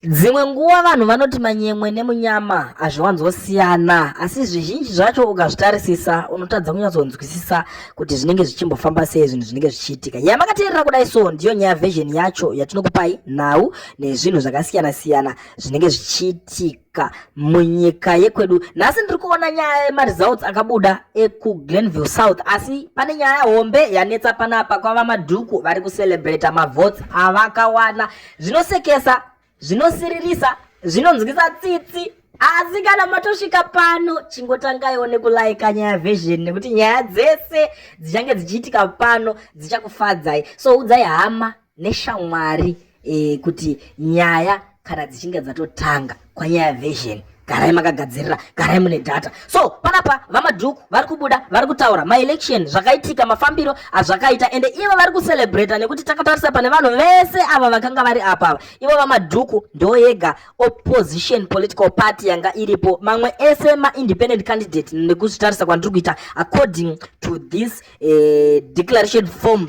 Dzimwe nguva vanhu vanoti manyemwe nemunyama hazviwanzosiyana, asi zvizhinji zvacho ukazvitarisisa unotadza kunyatsonzwisisa kuti zvinenge zvichimbofamba sei zvinhu zvinenge zvichiitika. Yamakateerera kudai so ndiyo nyaya version yacho yatinokupai nhau nezvinhu zvakasiyana siyana zvinenge zvichiitika munyika yekwedu. Nhasi ndiri kuona nyaya yemaresults akabuda ekuGlenville South, asi pane nyaya hombe yanetsa panapa kwava madhuku vari kucelebrata mavotes avakawana zvinosekesa zvinosiririsa zvinonzwisa tsitsi asi kana matosvika pano chingotangaiwo nekulaika nyaya version nekuti nyaya dzese dzichange dzichiitika pano dzichakufadzai so udzai hama neshamwari e, kuti nyaya kana dzichinge dzatotanga kwanyaya version garai makagadzirira garai mune data so panapa vamadhuku vari kubuda vari kutaura maelection zvakaitika mafambiro azvakaita ende ivo vari kucelebrata nekuti takatarisa pane vanhu vese ava vakanga vari apa ava ivo vamadhuku ndo yega opposition political party yanga iripo mamwe ese maindependent candidate nekuzvitarisa kwandiri kuita according to this uh, declaration form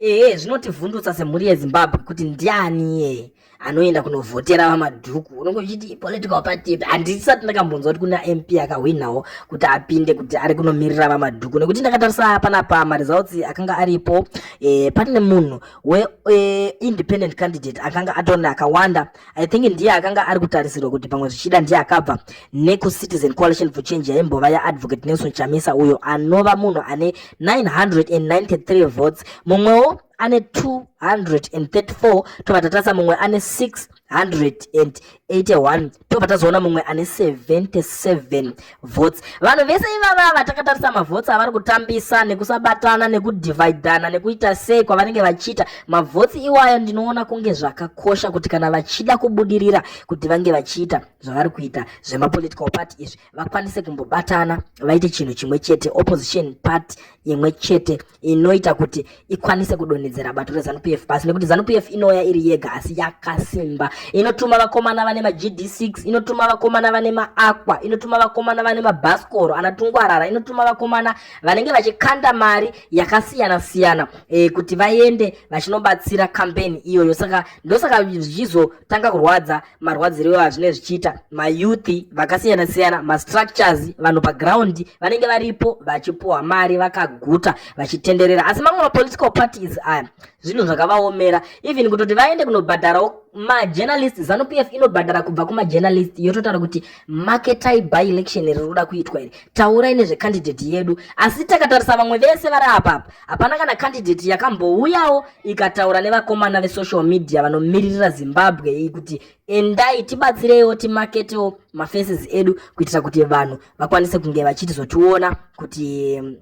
Ehe, zvinotivhundutsa semhuri yeZimbabwe kuti ndiani iyeye anoenda kunovhotera vamadhuku unenge uchiti political party ipi handisati ndakambonzwa kuti kuna mp akahwinawo kuti apinde kuti ari kunomirira vamadhuku nekuti ndakatarisa panapa maresults akanga aripo e, pane munhu weindependent e, candidate akanga atona akawanda I think ndiye akanga ari kutarisirwa kuti pamwe zvichida ndiye akabva nekuCitizen Coalition for Change yaimbova yaAdvocate Nelson Chamisa uyo anova munhu ane 993 votes mumwewo ane 234 tobva tatasa mumwe ane 681 tobva tazoona mumwe ane 77 votes vanhu vese ivava vatakatarisa mavotes avari kutambisa nekusabatana nekudivhaidhana nekuita sei kwavanenge vachiita mavotes iwayo ndinoona kunge zvakakosha kuti kana vachida kubudirira kuti vange vachiita zvavari kuita zvemapolitical party izvi vakwanise kumbobatana vaite chinhu chimwe chete opposition party imwe chete inoita kuti ikwanise kudonhedzera bato reZanu PF pasi nekuti Zanu PF inouya iri yega asi yakasimba inotuma vakomana vane maGD6 inotuma vakomana vane maAqua inotuma vakomana vane mabhasikoro anatungwarara inotuma vakomana vanenge vachikanda mari yakasiyana siyana e, kuti vaende vachinobatsira kampeni iyoyo saka ndosaka zvichizotanga kurwadza marwadziro iwayo hazvinenge zvichiita mayouth vakasiyana siyana mastructures vanhu paground vanenge varipo vachipuhwa mari vakaguta vachitenderera asi mamwe mapolitical parties aya zvinhu zvakavaomera even kutoti vaende kunobhadharawo majournalist zanup f inobhadhara kubva kumajournalist yototaura kuti marketai by election riri kuda kuitwa iri taurai nezvecandidate yedu asi takatarisa vamwe vese vari apapa hapana kana candidate yakambouyawo ikataura nevakomana vesocial media vanomiririra zimbabwe iyi kuti endai tibatsireiwo timaketewo mafaces edu kuitira kuti vanhu vakwanise kunge vachitizotiona kuti mm,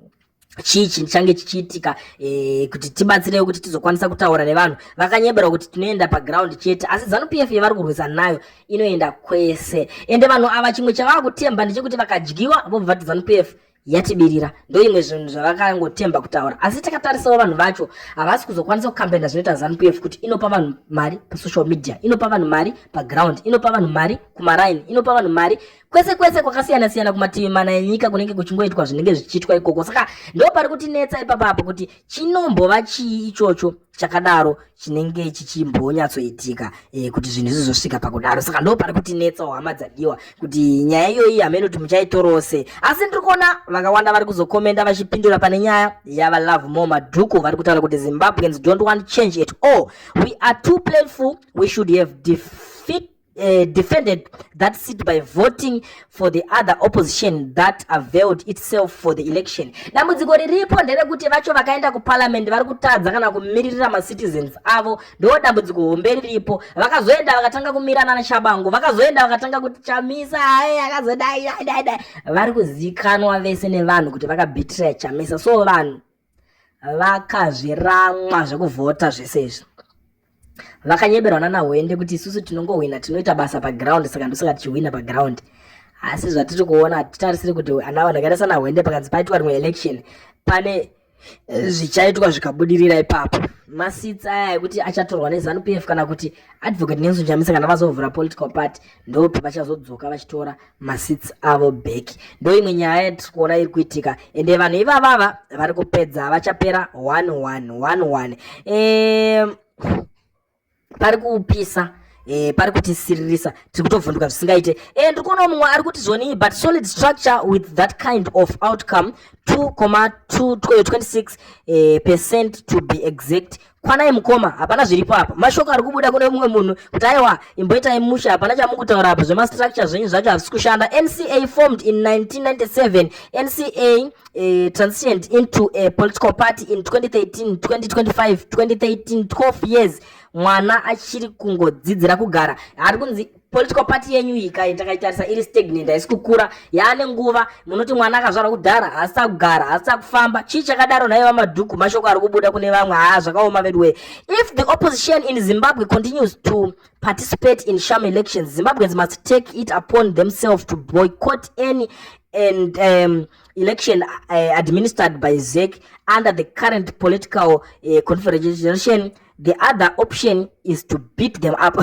chii chichange chichiitika e, kuti tibatsirewo kuti tizokwanisa kutaura nevanhu vakanyeberwa kuti tinoenda paground chete asi zanu p f yavari kurwisa nayo inoenda kwese ende vanhu ava chimwe chavava kutemba ndechekuti vakadyiwa vobva vati zanu p f yatibirira ndoimwe zvinhu zvavakangotemba kutaura asi takatarisawo vanhu vacho havasi kuzokwanisa kukambena zvinoita zanu pf kuti inopa vanhu mari pasocial media inopa vanhu mari paground inopa vanhu mari kumaraini inopa vanhu mari kwese kwese kwakasiyana siyana kumativi mana enyika kunenge kuchingoitwa zvinenge zvichiitwa ikoko saka ndo pari kutinetsa ipapa apo kuti chinombova chii ichocho chakadaro chinenge chichimbonyatsoitika e, kuti zvinhu zvizosvika pakudaro saka ndo pari kuti netsa hama dzadiwa kuti nyaya iyoyi hameno kuti muchaitorose asi ndiri kuona vakawanda vari kuzokomenda vachipindura pane nyaya yava love more madhuku vari kutaura kuti zimbabweans don't want change at all we are too playful we should have defeat uh, defended that seat by voting for the other opposition that availed itself for the election dambudziko riripo nderekuti vacho vakaenda kuparliament vari kutadza kana kumiririra macitizens avo ndo dambudziko hombe riripo vakazoenda vakatanga kumirana nachabango vakazoenda vakatanga kuti chamisa aye akazodai vari kuzikanwa vese nevanhu kuti vakabhitiraya chamisa so vanhu vakazviramwa zvekuvhota zvese izvi vakanyeberwa nana hwende kuti isusu tinongohwina tinoita basa paground saka ndosaka tichihwina paground asi zvatiri kuona hatitarisiri kuti ana vanhu akaita sana hwende pakanzi paitwa rimwe election pane eh, zvichaitwa zvikabudirira ipapo masitsi aya ekuti achatorwa nezanu p f kana kuti advocate nelson chamisa kana vazovhura political party ndope vachazodzoka vachitora maseats avo back ndo imwe nyaya yatiri kuona iri kuitika ende vanhu ivavava vari kupedza vachapera one one one one e, pari kupisa Eh, pari kutisiririsa tiri kutovhunduka zvisingaite eh, ndiri kuona mumwe ari kuti zvonii but solid structure with that kind of outcome 2,26 eh, percent to be exact kwanai mukoma hapana zviripo apa mashoko ari kubuda kune mumwe munhu kuti aiwa imboitai musha hapana chamukutaura apa zvemastructure zvenyu zvacho hazvisi kushanda nca formed in 1997 nca uh, transitioned into a political party in 2013 2025 2013 12 years mwana achiri kungodzidzira kugara ari kunzi political party yenyu iyi kai takaitarisa iri stagnant haisi kukura yaane nguva munoti mwana akazvarwa kudhara haasi akugara haasi akufamba chii chakadaro nhaiye vamadhuku mashoko ari kubuda kune vamwe haa zvakaoma veduwe if the opposition in zimbabwe continues to participate in sham elections zimbabweans must take it upon themselves to boycott any and um, election uh, administered by zec under the current political uh, confederation the other option is to beat them up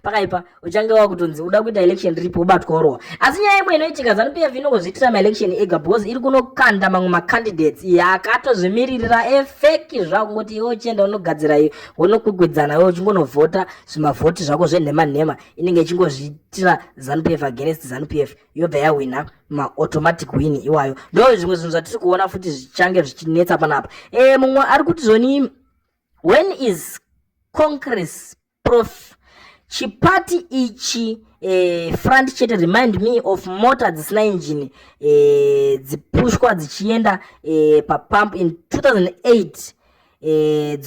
pakaipa uchange wakutonzi uda kuita election ripi ubatwa orowa asi nyaya imwe inoitika zanu pf inongozviitira maelection ega because iri kunokanda mamwe macandidates iye akatozvimiririra efeki zvavo kungoti iwe uchienda unogadzira iyo wonokwikwedzana iwe uchingonovhota zvimavhoti zvako zvenhema nhema inenge ichingozviitira zanu pf against zanu pf yobva yahwina maautomatic win iwayo ndo zvimwe zvinhu zvatiri kuona futi zvichange zvichinetsa panapa e, mumwe ari kuti zvoni when is congress prof chipati ichi eh, front chete remind me of mota dzisina injini eh, dzipushwa dzichienda eh, papump in 2008 eh,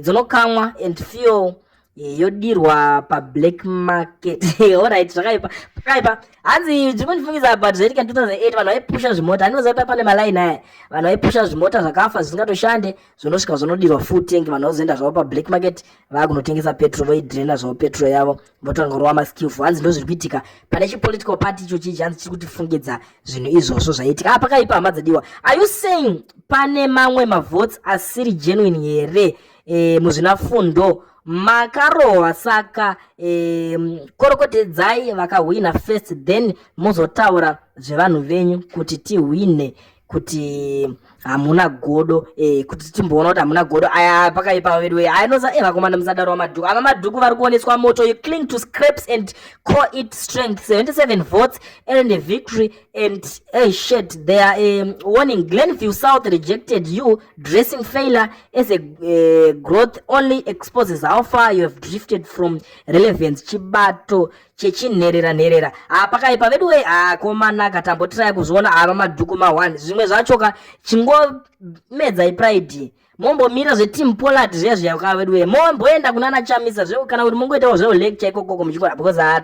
dzonokamwa eh, and fuel yodirwa pablack market orit zvakaipa zvakaipa hanzi zvimwe ndifungiza about zvaitika 2008 vanhu vaipusha zvimota handinoziva pa pane malaini aya vanhu vaipusha zvimota zvakafa zvisingatoshande zvonosvika zvonodirwa full tank vanhu vazoenda zvavo pablack market vaakunotengesa petro voidrena zvavo petro yavo votanga kurova maskillful hanzi ndo zviri kuitika pane chipolitical party icho chii hanzi chiri kutifungidza zvinhu izvozvo zvaiitika ah pakaipa hama dzadiwa are you saying pane mamwe mavotes asiri genuine here e, muzvinafundo makarohwa saka e, korokotedzai vakahwina first then mozotaura zvevanhu venyu kuti tihwine kuti hamuna godo e, kuti timboona kuti hamuna godo aya pakaipa vedu wee ainoza e, vakomana musadaro vamadhuku ava madhuku vari kuoneswa moto you cling to scraps and call it strength 77 votes and a victory and hey shit they are um, warning glenview south rejected you dressing failure as a uh, growth only exposes how far you have drifted from relevance chibato chechinherera nherera ah, pakaipa vedu wee ah, komanaka tambotirai kuzviona ava ah, madhuku ma1 zvimwe zvachoka chingomedzai pride mombomira zveteam pollard zviya zviya ka vedu wee momboenda kunana chamisa zve kana kuti mongoitawo zvewo lecture ikokoko muchikora because ha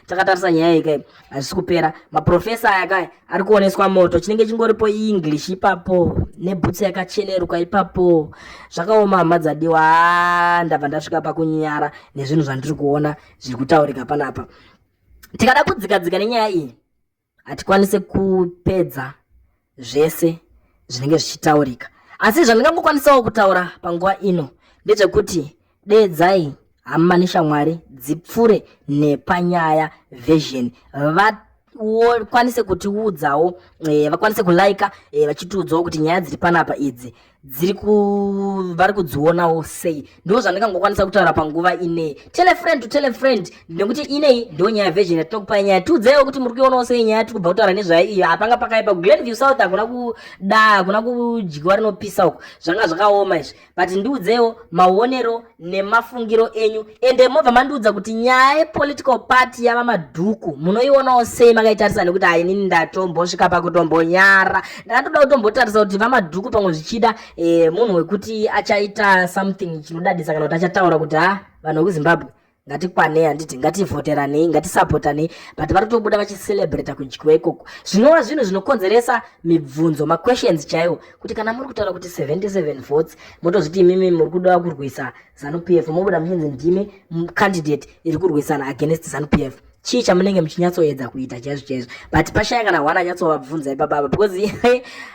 takatarisa nyaya iyi kai hazvisi kupera maprofesa aya kai ari kuoneswa moto chinenge chingoripo english ipapo nebhutsu yakacheneruka ipapo zvakaoma hama dzadiwa ha ndabva ndasvika pakunyara nezvinhu zvandiri kuona zviri kutaurika panapa tikada kudzikadzika nenyaya iyi hatikwanise kupedza zvese zvinenge zvichitaurika asi zvandingangokwanisawo kutaura panguva ino ndezvekuti deedzai hama neshamwari dzipfure nepanyaya version vakwanise kutiudzawo eh, vakwanise kulaika eh, vachitiudzawo kuti nyaya dziri panapa idzi dziri vari kudzionawo sei ndo zvandingangokwanisa kutaura panguva inei tele friend to tele friend nekuti inei ndo nyaya version yatinokupai nyaya tiudzaiwo kuti muri kuionawo sei nyaya tiri kubva kutaura nezvayo iyo hapanga pakaipa kuglen view south hakuna kuda hakuna kudyiwa rinopisa uko zvanga zvakaoma izvi but ndiudzeiwo maonero nemafungiro enyu ende mobva mandiudza kuti nyaya yepolitical party yava madhuku munoionawo sei makaitarisa nekuti hainini ndatombosvika pakutombonyara ndakatoda kutombotarisa kuti vamadhuku pamwe zvichida e, munhu wekuti achaita something chinodadisa kana kuti achataura kuti ha vanhu vekuzimbabwe ngatikwanei handiti ngativhoteranei ngatisapotanei but vari kutobuda vachicelebrata kudyiwa ikoko zvinova zvinhu zvinokonzeresa mibvunzo maquestions chaiwo kuti kana muri kutaura kuti 77 votes motozviti imimi muri kuda kurwisa zanu p f mobuda muchinzi ndimi candidate iri kurwisana against zanu p f chii chamunenge muchinyatsoedza kuita chaizvo chaizvo but pashaya kana hwana anyatsovabvunza ipapapa because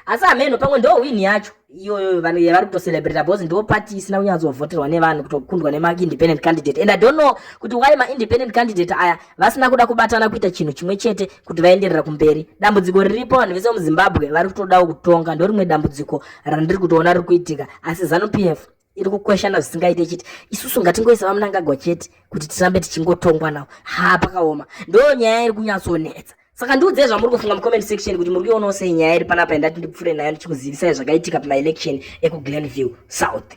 asi hameno pamwe ndo win yacho iyoyo vanhu yavari kutocelebrata because ndo party isina kunyatsovhoterwa nevanhu kutokundwa nemaindependent candidate and i don't know kuti why maindependent candidate aya ah, vasina kuda kubatana kuita chinhu chimwe chete kuti vaenderera kumberi dambudziko riripo vanhu vese muzimbabwe vari kutodawo kutonga ndo rimwe dambudziko randiri kutoona riri kuitika asi zanu p f iri kukweshana zvisingaite chiti isusu ngatingoisa vamunangagwa chete kuti tirambe tichingotongwa nawo ha pakaoma ndo nyaya iri kunyatsonetsa saka ndiudzei zvamuri kufunga mucomment section kuti muri kuionawo sei nyaya iri panapa yandati ndipfuure nayo ndichikuzivisai zvakaitika pamaelection ekuglenview south